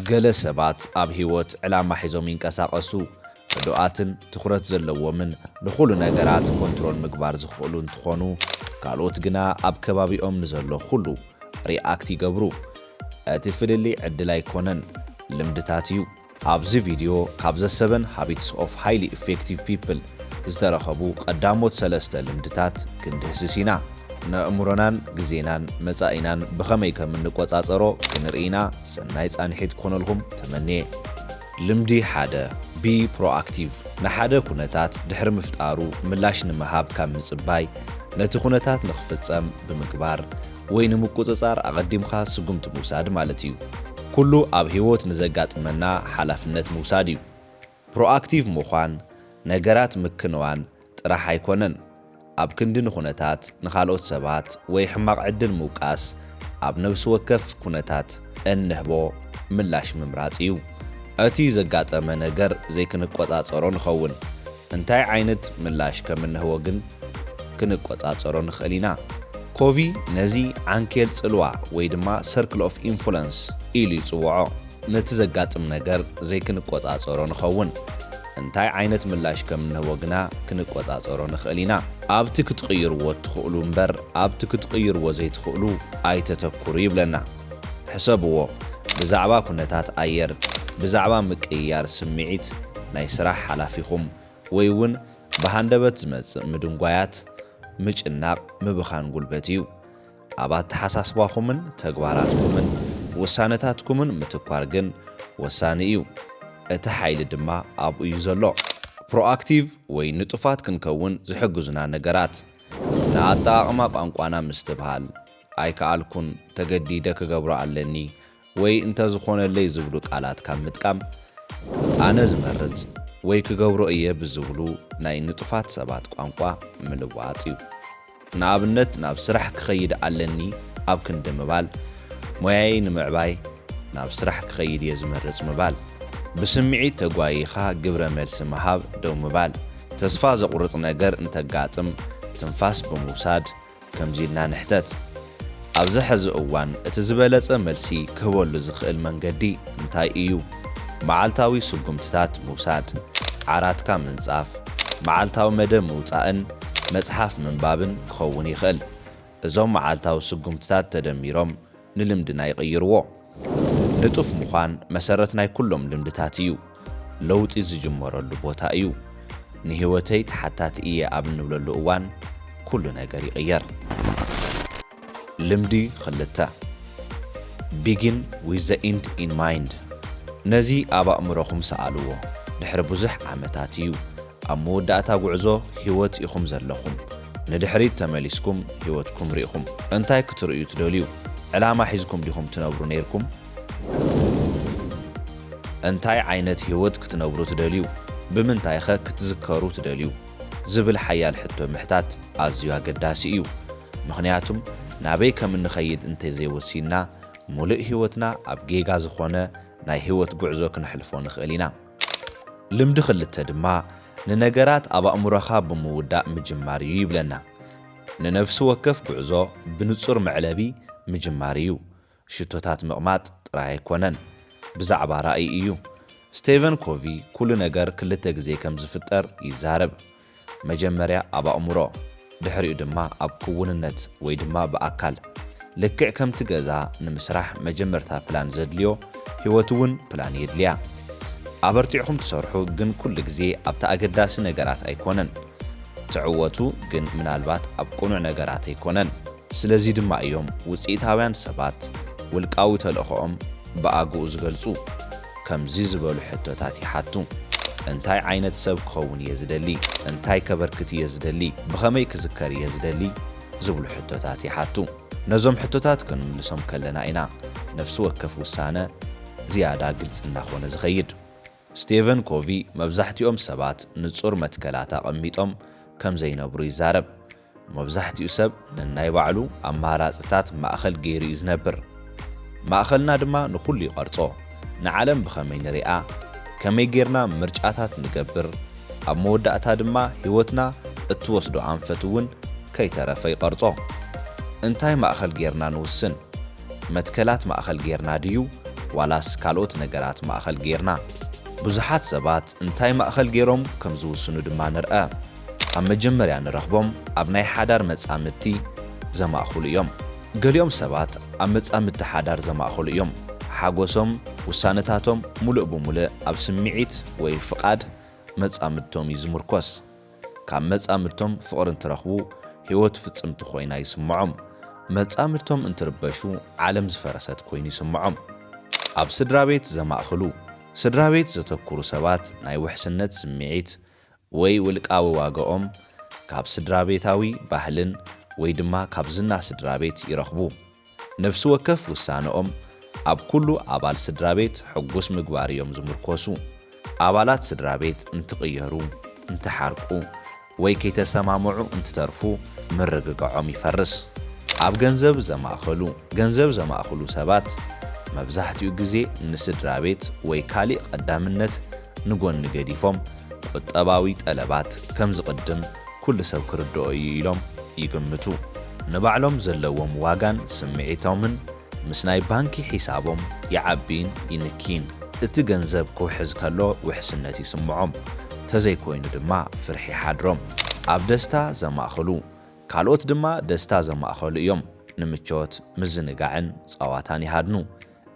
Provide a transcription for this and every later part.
ገለ ሰባት ኣብ ህይወት ዕላማ ሒዞም ይንቀሳቐሱ። ርዱኣትን ትኹረት ዘለዎምን ንኹሉ ነገራት ኮንትሮል ምግባር ዝኽእሉ እንትኾኑ፣ ካልኦት ግና ኣብ ከባቢኦም ንዘሎ ኩሉ ሪኣክት ይገብሩ። እቲ ፍልልይ ዕድል ኣይኮነን፣ ልምድታት እዩ። ኣብዚ ቪድዮ ካብ ዘ ሰቨን ሃቢትስ ኦፍ ሃይሊ ኢፌክቲቭ ፒፕል ዝተረኸቡ ቀዳሞት ሰለስተ ልምድታት ክንድህስስ ኢና። ነእምሮናን ግዜናን መጻኢናን ብኸመይ ከም እንቆጻጸሮ ክንርኢ ኢና። ሰናይ ጻንሒት ክኾነልኩም ተመንየ። ልምዲ ሓደ፣ Be Proactive፣ ንሓደ ኩነታት ድሕሪ ምፍጣሩ ምላሽ ንምሃብ ካብ ምጽባይ፣ ነቲ ኩነታት ንኽፍጸም ብምግባር፣ ወይ ንምቁጽጻር ኣቐዲምካ ስጉምቲ ምውሳድ ማለት እዩ። ኩሉ ኣብ ህይወት ንዘጋጥመና ሓላፍነት ምውሳድ እዩ። ፕሮኣክቲቭ ምዃን፣ ነገራት ምክንዋን ጥራሕ ኣይኮነን። ኣብ ክንዲ ንኩነታት፣ ንካልኦት ሰባት ወይ ሕማቕ ዕድል ምውቃስ፣ ኣብ ነብሲ ወከፍ ኩነታት እንህቦ ምላሽ ምምራጽ እዩ። እቲ ዘጋጠመ ነገር ዘይክንቆጻጸሮ ንኸውን። እንታይ ዓይነት ምላሽ ከም እንህቦ ግን ክንቆጻጸሮ ንኽእል ኢና። ኮቪ ነዚ ዓንኬል ጽልዋ ወይ ድማ ሰርክል ኦፍ ኢንፍሉንስ ኢሉ ይጽውዖ። ነቲ ዘጋጥም ነገር ዘይክንቆጻጸሮ ንኸውን። እንታይ ዓይነት ምላሽ ከም እንህቦ ግና ክንቆጻጸሮ ንኽእል ኢና። ኣብቲ ክትቕይርዎ እትኽእሉ እምበር ኣብቲ ክትቕይርዎ ዘይትኽእሉ ኣይተተኩሩ ይብለና። ሕሰብዎ፣ ብዛዕባ ኩነታት ኣየር፣ ብዛዕባ ምቅይያር ስምዒት ናይ ስራሕ ሓላፊኹም፣ ወይ እውን ብሃንደበት ዝመጽእ ምድንጓያት፣ ምጭናቕ ምብኻን ጉልበት እዩ። ኣብ ኣተሓሳስባኹምን ተግባራትኩምን ውሳነታትኩምን ምትኳር ግን ወሳኒ እዩ። እቲ ሓይሊ ድማ ኣብኡ እዩ ዘሎ። ፕሮኣክቲቭ ወይ ንጡፋት ክንከውን ዝሕግዙና ነገራት፣ ንኣጠቓቕማ ቋንቋና ምስትብሃል፣ ኣይከኣልኩን፣ ተገዲደ ክገብሮ ኣለኒ ወይ እንተዝኾነለይ ዝብሉ ቃላት ካብ ምጥቃም ኣነ ዝመርጽ ወይ ክገብሮ እየ ብዝብሉ ናይ ንጡፋት ሰባት ቋንቋ ምልዋጥ እዩ። ንኣብነት ናብ ስራሕ ክኸይድ ኣለኒ ኣብ ክንዲ ምባል ሞያየይ ንምዕባይ ናብ ስራሕ ክኸይድ እየ ዝመርጽ ምባል። ብስምዒት ተጓይይኻ ግብረ መልሲ ምሃብ ደው ምባል። ተስፋ ዘቑርጽ ነገር እንተጋጥም ትንፋስ ብምውሳድ ከምዚ ኢልና ንሕተት፣ ኣብዚ ሐዚ እዋን እቲ ዝበለፀ መልሲ ክህበሉ ዝኽእል መንገዲ እንታይ እዩ? መዓልታዊ ስጉምትታት ምውሳድ፣ ዓራትካ ምንፃፍ፣ መዓልታዊ መደብ ምውፃእን መፅሓፍ ምንባብን ክኸውን ይኽእል። እዞም መዓልታዊ ስጉምትታት ተደሚሮም ንልምድና ይቕይርዎ። ንጡፍ ምዃን መሰረት ናይ ኩሎም ልምድታት እዩ። ለውጢ ዝጅመረሉ ቦታ እዩ። ንህይወተይ ተሓታቲ እየ ኣብ እንብለሉ እዋን ኩሉ ነገር ይቕየር። ልምዲ ኽልተ፣ Begin with the End in Mind፣ ነዚ ኣብ ኣእምሮኹም ሰኣልዎ። ድሕሪ ብዙሕ ዓመታት እዩ። ኣብ መወዳእታ ጉዕዞ ህይወት ኢኹም ዘለኹም። ንድሕሪት ተመሊስኩም ህይወትኩም ርኢኹም እንታይ ክትርእዩ ትደልዩ? ዕላማ ሒዝኩም ዲኹም ትነብሩ ነይርኩም? እንታይ ዓይነት ህይወት ክትነብሩ ትደልዩ? ብምንታይኸ ክትዝከሩ ትደልዩ? ዝብል ሓያል ሕቶ ምሕታት ኣዝዩ ኣገዳሲ እዩ። ምኽንያቱም ናበይ ከም እንኸይድ እንተዘይወሲንና፣ ሙሉእ ህይወትና ኣብ ጌጋ ዝኾነ ናይ ህይወት ጉዕዞ ክነሕልፎ ንኽእል ኢና። ልምዲ ክልተ ድማ ንነገራት ኣብ ኣእምሮኻ ብምውዳእ ምጅማር እዩ ይብለና። ንነፍሲ ወከፍ ጉዕዞ ብንጹር መዕለቢ ምጅማር እዩ። ሽቶታት ምቕማጥ ጥራይ ኣይኮነን፣ ብዛዕባ ራእይ እዩ። ስቴቨን ኮቪ ኩሉ ነገር ክልተ ግዜ ከም ዝፍጠር ይዛረብ። መጀመርያ ኣብ ኣእምሮ ድሕሪኡ ድማ ኣብ ክውንነት ወይ ድማ ብኣካል። ልክዕ ከምቲ ገዛ ንምስራሕ መጀመርታ ፕላን ዘድልዮ ህይወት እውን ፕላን የድልያ። ኣበርቲዕኹም ትሰርሑ ግን ኩሉ ግዜ ኣብቲ ኣገዳሲ ነገራት ኣይኮነን ትዕወቱ ግን ምናልባት ኣብ ቅኑዕ ነገራት ኣይኮነን። ስለዚ ድማ እዮም ውጽኢታውያን ሰባት ውልቃዊ ተልእኾኦም ብኣግኡ ዝገልጹ። ከምዚ ዝበሉ ሕቶታት ይሓቱ፣ እንታይ ዓይነት ሰብ ክኸውን እየ ዝደሊ? እንታይ ከበርክት እየ ዝደሊ? ብኸመይ ክዝከር እየ ዝደሊ? ዝብሉ ሕቶታት ይሓቱ። ነዞም ሕቶታት ክንምልሶም ከለና ኢና ነፍሲ ወከፍ ውሳነ ዝያዳ ግልጺ እናኾነ ዝኸይድ። ስቴቨን ኮቪ መብዛሕትኦም ሰባት ንጹር መትከላት ኣቐሚጦም ከም ዘይነብሩ ይዛረብ። መብዛሕትኡ ሰብ ነናይ ባዕሉ ኣማራጺታት ማእከል ገይሩ እዩ ዝነብር። ማእከልና ድማ ንኹሉ ይቐርጾ። ንዓለም ብኸመይ ንሪኣ? ከመይ ገይርና ምርጫታት ንገብር? ኣብ መወዳእታ ድማ ህይወትና እትወስዶ ኣንፈት እውን ከይተረፈ ይቐርጾ። እንታይ ማእከል ገይርና ንውስን? መትከላት ማእከል ገይርና ድዩ ዋላስ ካልኦት ነገራት ማእከል ገይርና? ብዙሓት ሰባት እንታይ ማእከል ገይሮም ከም ዝውስኑ ድማ ንርኣ። ኣብ መጀመርያ ንረኽቦም ኣብ ናይ ሓዳር መጻምድቲ ዘማእክሉ እዮም። ገሊኦም ሰባት ኣብ መጻምድቲ ሓዳር ዘማእከሉ እዮም። ሓጎሶም፣ ውሳነታቶም ምሉእ ብምሉእ ኣብ ስምዒት ወይ ፍቓድ መጻምድቶም እዩ ዝምርኮስ። ካብ መጻምድቶም ፍቕሪ እንትረኽቡ ህይወት ፍጽምቲ ኮይና ይስምዖም። መጻምድቶም እንትርበሹ ዓለም ዝፈረሰት ኮይኑ ይስምዖም። ኣብ ስድራቤት ዘማእክሉ፣ ስድራቤት ዘተኩሩ ሰባት ናይ ውሕስነት ስምዒት፣ ወይ ውልቃዊ ዋጋኦም ካብ ስድራቤታዊ ባህልን ወይ ድማ ካብ ዝና ስድራቤት ይረኽቡ። ነፍሲ ወከፍ ውሳነኦም ኣብ ኩሉ ኣባል ስድራቤት ሕጉስ ምግባር እዮም ዝምርኮሱ። ኣባላት ስድራቤት እንትቕየሩ፣ እንትሓርቁ ወይ ከይተሰማምዑ እንትተርፉ ምርግጋዖም ይፈርስ። ኣብ ገንዘብ ዘማእከሉ ገንዘብ ዘማእክሉ ሰባት መብዛሕትኡ ግዜ ንስድራቤት ወይ ካሊእ ቀዳምነት ንጎኒ ገዲፎም ቁጠባዊ ጠለባት ከምዝቕድም ኩሉ ሰብ ክርድኦ እዩ ኢሎም ይግምቱ። ንባዕሎም ዘለዎም ዋጋን ስምዒቶምን ምስ ናይ ባንኪ ሒሳቦም ይዓቢን ይንኪን። እቲ ገንዘብ ክውሕዝ ከሎ ውሕስነት ይስምዖም፣ ተዘይኮይኑ ድማ ፍርሒ ይሓድሮም። ኣብ ደስታ ዘማእኽሉ፣ ካልኦት ድማ ደስታ ዘማእኸሉ እዮም። ንምቾት፣ ምዝንጋዕን ጸዋታን ይሃድኑ።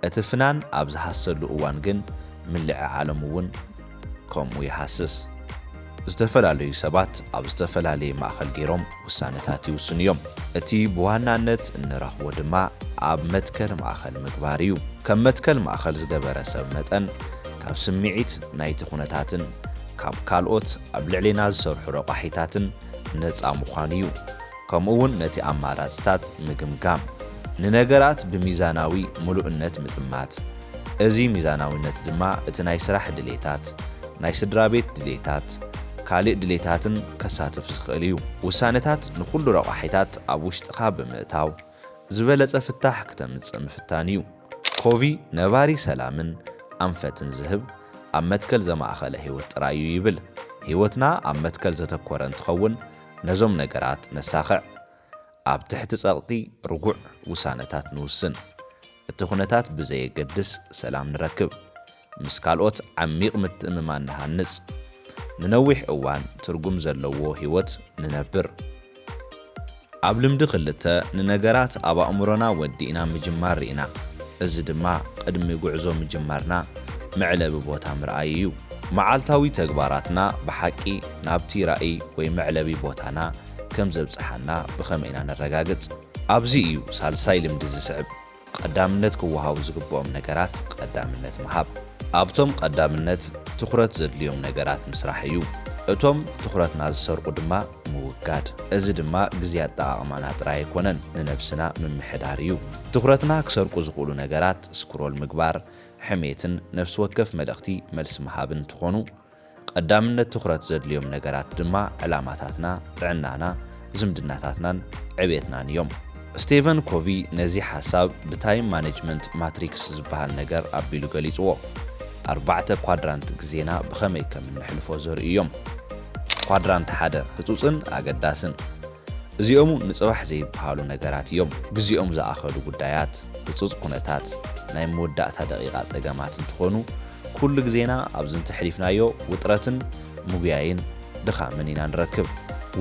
እቲ ፍናን ኣብ ዝሃስሰሉ እዋን ግን ምልዕዓሎም እውን ከምኡ ይሃስስ። ዝተፈላለዩ ሰባት ኣብ ዝተፈላለየ ማእኸል ገይሮም ውሳነታት ይውስኑ እዮም። እቲ ብዋናነት እንረኽቦ ድማ ኣብ መትከል ማእኸል ምግባር እዩ። ከም መትከል ማእኸል ዝገበረ ሰብ መጠን ካብ ስምዒት ናይቲ ኩነታትን ካብ ካልኦት ኣብ ልዕሌና ዝሰርሑ ረቋሒታትን ነፃ ምዃኑ እዩ። ከምኡ'ውን ነቲ ኣማራጺታት ምግምጋም፣ ንነገራት ብሚዛናዊ ምሉእነት ምጥማት፣ እዚ ሚዛናዊነት ድማ እቲ ናይ ስራሕ ድሌታት፣ ናይ ስድራቤት ድሌታት፣ ካልእ ድሌታትን ከሳትፍ ዝኽእል እዩ። ውሳነታት ንኹሉ ረቋሒታት ኣብ ውሽጥኻ ብምእታው፣ ዝበለጸ ፍታሕ ክተምጽእ ምፍታን እዩ። ኮቪ ነባሪ ሰላምን ኣንፈትን ዝህብ ኣብ መትከል ዘማእኸለ ህይወት ጥራይ እዩ ይብል። ህይወትና ኣብ መትከል ዘተኮረ እንትኸውን፣ ነዞም ነገራት ነሳኽዕ፣ ኣብ ትሕቲ ጸቕጢ ርጉዕ ውሳነታት ንውስን፣ እቲ ኩነታት ብዘየገድስ ሰላም ንረክብ፣ ምስ ካልኦት ዓሚቕ ምትእምማን ንሃንጽ፣ ንነዊሕ እዋን ትርጉም ዘለዎ ህይወት ንነብር። ኣብ ልምዲ ክልተ፣ ንነገራት ኣብ ኣእምሮና ወዲእና ምጅማር ርኢና፣ እዚ ድማ ቅድሚ ጉዕዞ ምጅማርና መዕለቢ ቦታ ምርኣይ እዩ። መዓልታዊ ተግባራትና ብሓቂ ናብቲ ራእይ ወይ መዕለቢ ቦታና ከም ዘብጽሓና ብኸመይ ኢና ነረጋግጽ? ኣብዚ እዩ ሳልሳይ ልምዲ ዝስዕብ፣ ቐዳምነት ክወሃቡ ዝግብኦም ነገራት ቐዳምነት ምሃብ። ኣብቶም ቐዳምነት ትኹረት ዘድልዮም ነገራት ምስራሕ እዩ። እቶም ትኹረትና ዝሰርቑ ድማ ምውጋድ። እዚ ድማ ግዜ ኣጠቓቕማና ጥራይ ኣይኮነን፣ ንነብስና ምምሕዳር እዩ። ትኹረትና ክሰርቁ ዝኽእሉ ነገራት ስክሮል ምግባር፣ ሕሜትን ነፍሲ ወከፍ መልእኽቲ መልሲ ምሃብ እንትኾኑ፣ ቐዳምነት ትኹረት ዘድልዮም ነገራት ድማ ዕላማታትና፣ ጥዕናና፣ ዝምድናታትናን ዕብየትናን እዮም። ስቴቨን ኮቪ ነዚ ሓሳብ ብታይም ማኔጅመንት ማትሪክስ ዝበሃል ነገር ኣቢሉ ገሊፅዎ። ኣርባዕተ ኳድራንት ግዜና ብኸመይ ከም እነሕልፎ ዘርእዩ እዮም። ኳድራንት ሓደ፣ ህፁፅን ኣገዳስን። እዚኦም'ውን ንጽባሕ ዘይብሃሉ ነገራት እዮም። ግዜኦም ዝኣኸሉ ጉዳያት፣ ህጹጽ ኩነታት፣ ናይ መወዳእታ ደቒቓ ጸገማት እንትኾኑ፣ ኩሉ ግዜና ኣብ ዝንተ ሕሊፍናዮ ውጥረትን ምጉያይን ድኻምን ኢና ንረክብ።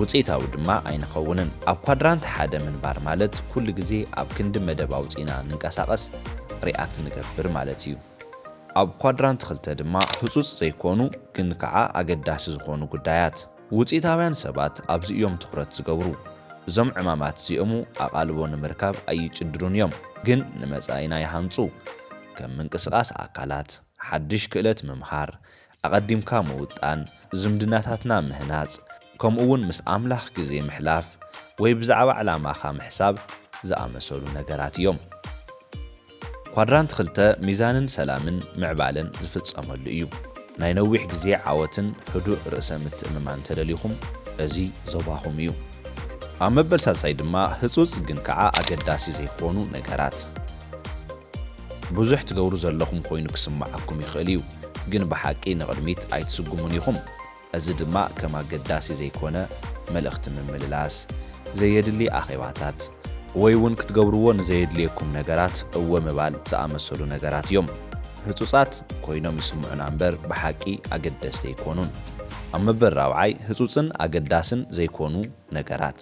ውጽኢታዊ ድማ ኣይንኸውንን። ኣብ ኳድራንት ሓደ ምንባር ማለት ኩሉ ግዜ ኣብ ክንዲ መደብ ኣውጺእና ንንቀሳቐስ፣ ሪኣክት ንገብር ማለት እዩ። ኣብ ኳድራንት ክልተ ድማ ህጹጽ ዘይኮኑ ግን ከዓ ኣገዳሲ ዝኾኑ ጉዳያት፣ ውጽኢታውያን ሰባት ኣብዚ እዮም ትኹረት ዝገብሩ። እዞም ዕማማት እዚኦሙ ኣቓልቦ ንምርካብ ኣይጭድሩን እዮም፣ ግን ንመጻኢና ይሃንጹ። ከም ምንቅስቓስ ኣካላት፣ ሓድሽ ክእለት ምምሃር፣ ኣቐዲምካ ምውጣን፣ ዝምድናታትና ምህናጽ፣ ከምኡውን ምስ ኣምላኽ ግዜ ምሕላፍ ወይ ብዛዕባ ዕላማኻ ምሕሳብ ዝኣመሰሉ ነገራት እዮም። ኳድራንት ክልተ ሚዛንን ሰላምን ምዕባለን ዝፍፀመሉ እዩ። ናይ ነዊሕ ግዜ ዓወትን ህዱእ ርእሰ ምትእምማን ተደሊኹም እዚ ዞባኹም እዩ። ኣብ መበል ሳልሳይ ድማ ህፁፅ ግን ከዓ ኣገዳሲ ዘይኾኑ ነገራት። ብዙሕ ትገብሩ ዘለኹም ኾይኑ ክስመዓኩም ይኽእል እዩ ግን ብሓቂ ንቕድሚት ኣይትስጉሙን ኢኹም። እዚ ድማ ከም ኣገዳሲ ዘይኮነ መልእኽቲ ምምልላስ፣ ዘየድሊ ኣኼባታት፣ ወይ እውን ክትገብርዎ ንዘየድልየኩም ነገራት እወ ምባል ዝኣመሰሉ ነገራት እዮም። ህጹጻት ኮይኖም ይስምዑና እምበር ብሓቂ ኣገደስቲ ኣይኮኑን። ኣብ መበል ራብዓይ፣ ህጹጽን ኣገዳስን ዘይኮኑ ነገራት።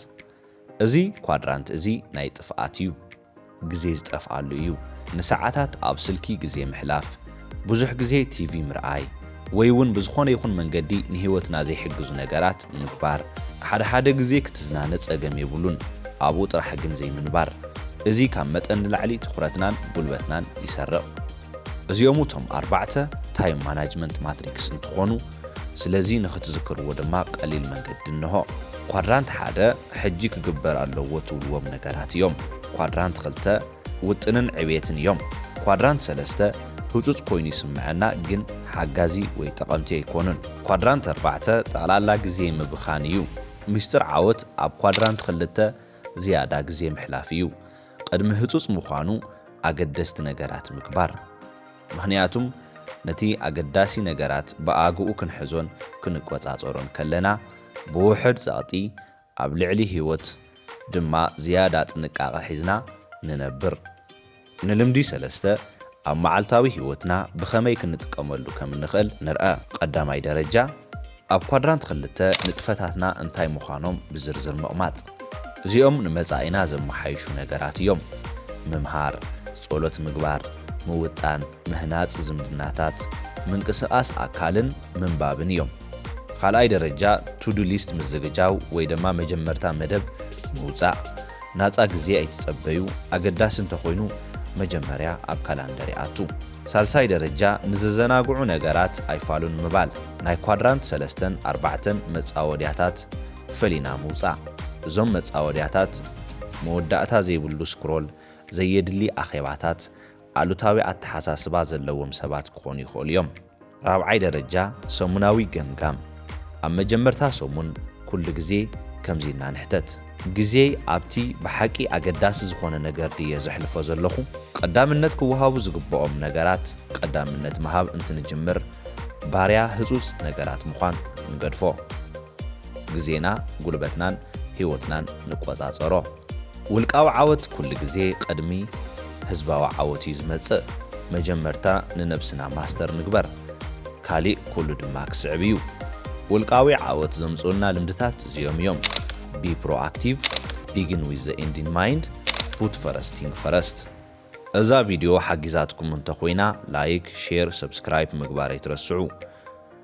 እዚ ኳድራንት እዚ ናይ ጥፍኣት እዩ። ግዜ ዝጠፍኣሉ እዩ፣ ንሰዓታት ኣብ ስልኪ ግዜ ምሕላፍ፣ ብዙሕ ግዜ ቲቪ ምርኣይ፣ ወይ'ውን ብዝኾነ ይኹን መንገዲ ንህይወትና ዘይሕግዙ ነገራት ምግባር። ሓደ ሓደ ግዜ ክትዝናነ ጸገም የብሉን፣ ኣብኡ ጥራሕ ግን ዘይምንባር። እዚ ካብ መጠን ንላዕሊ ትኹረትናን ጉልበትናን ይሰርቕ። እዚኦም እቶም ኣርባዕተ ታይም ማናጅመንት ማትሪክስ እንትኾኑ፣ ስለዚ ንኽትዝክርዎ ድማ ቀሊል መንገዲ እንሆ። ኳድራንት ሓደ። ሕጂ ክግበር ኣለዎ ትብልዎም ነገራት እዮም። ኳድራንት ክልተ፣ ውጥንን ዕብየትን እዮም። ኳድራንት ሰለስተ፣ ህጹጽ ኮይኑ ይስመዐና ግን ሓጋዚ ወይ ጠቐምቲ ኣይኮኑን። ኳድራንት ኣርባዕተ፣ ጠቕላላ ግዜ ምብኻን እዩ። ሚስጥር ዓወት ኣብ ኳድራንት ክልተ ዝያዳ ግዜ ምሕላፍ እዩ። ቕድሚ ህጹጽ ምዃኑ ኣገደስቲ ነገራት ምግባር። ምኽንያቱም ነቲ ኣገዳሲ ነገራት ብኣግኡ ክንሕዞን ክንቆጻጸሮን ከለና፣ ብውሑድ ጸቕጢ ኣብ ልዕሊ ህይወት ድማ ዝያዳ ጥንቃቐ ሒዝና ንነብር። ንልምዲ ሰለስተ ኣብ መዓልታዊ ህይወትና ብኸመይ ክንጥቀመሉ ከም እንኽእል ንርኣ። ቐዳማይ ደረጃ፣ ኣብ ኳድራንት ክልተ ንጥፈታትና እንታይ ምዃኖም ብዝርዝር ምቕማጥ። እዚኦም ንመጻኢና ዘመሓይሹ ነገራት እዮም። ምምሃር፣ ጸሎት ምግባር፣ ምውጣን፣ ምህናጽ ዝምድናታት፣ ምንቅስቓስ ኣካልን ምንባብን እዮም። ኻልኣይ ደረጃ ቱዱ ሊስት ምዝግጃው ወይ ደማ መጀመርታ መደብ ምውጻእ። ናጻ ግዜ ኣይትጸበዩ፣ ኣገዳሲ እንተኾይኑ መጀመርያ ኣብ ካላንደር ይኣቱ። ሳልሳይ ደረጃ ንዘዘናግዑ ነገራት ኣይፋሉን ምባል። ናይ ኳድራንት ሰለስተን ኣርባዕተን መጻወድያታት ፈሊና ምውጻእ። እዞም መጻወድያታት መወዳእታ ዘይብሉ ስክሮል፣ ዘየድሊ ኣኼባታት፣ ኣሉታዊ ኣተሓሳስባ ዘለዎም ሰባት ክኾኑ ይኽእሉ እዮም። ራብዓይ ደረጃ ሰሙናዊ ገምጋም ኣብ መጀመርታ ሰሙን ኩሉ ግዜ ከምዚ ኢልና ንሕተት። ግዜይ ኣብቲ ብሓቂ ኣገዳሲ ዝኾነ ነገር ድየ ዘሕልፎ ዘለኹ? ቀዳምነት ክወሃቡ ዝግብኦም ነገራት ቀዳምነት ምሃብ እንትንጅምር ባርያ ህጹጽ ነገራት ምዃን ንገድፎ። ግዜና፣ ጉልበትናን ህይወትናን ንቆጻጸሮ። ውልቃዊ ዓወት ኩሉ ግዜ ቐድሚ ህዝባዊ ዓወት እዩ ዝመጽእ መጀመርታ ንነብስና ማስተር ንግበር ካሊእ ኩሉ ድማ ክስዕብ እዩ ውልቃዊ ዓወት ዘምጽኡልና ልምድታት እዚኦም እዮም Be Proactive Begin with the End in Mind Put First Thing First እዛ ቪድዮ ሓጊዛትኩም እንተኾይና ላይክ ሼር ሰብስክራይፕ ምግባር ኣይትረስዑ።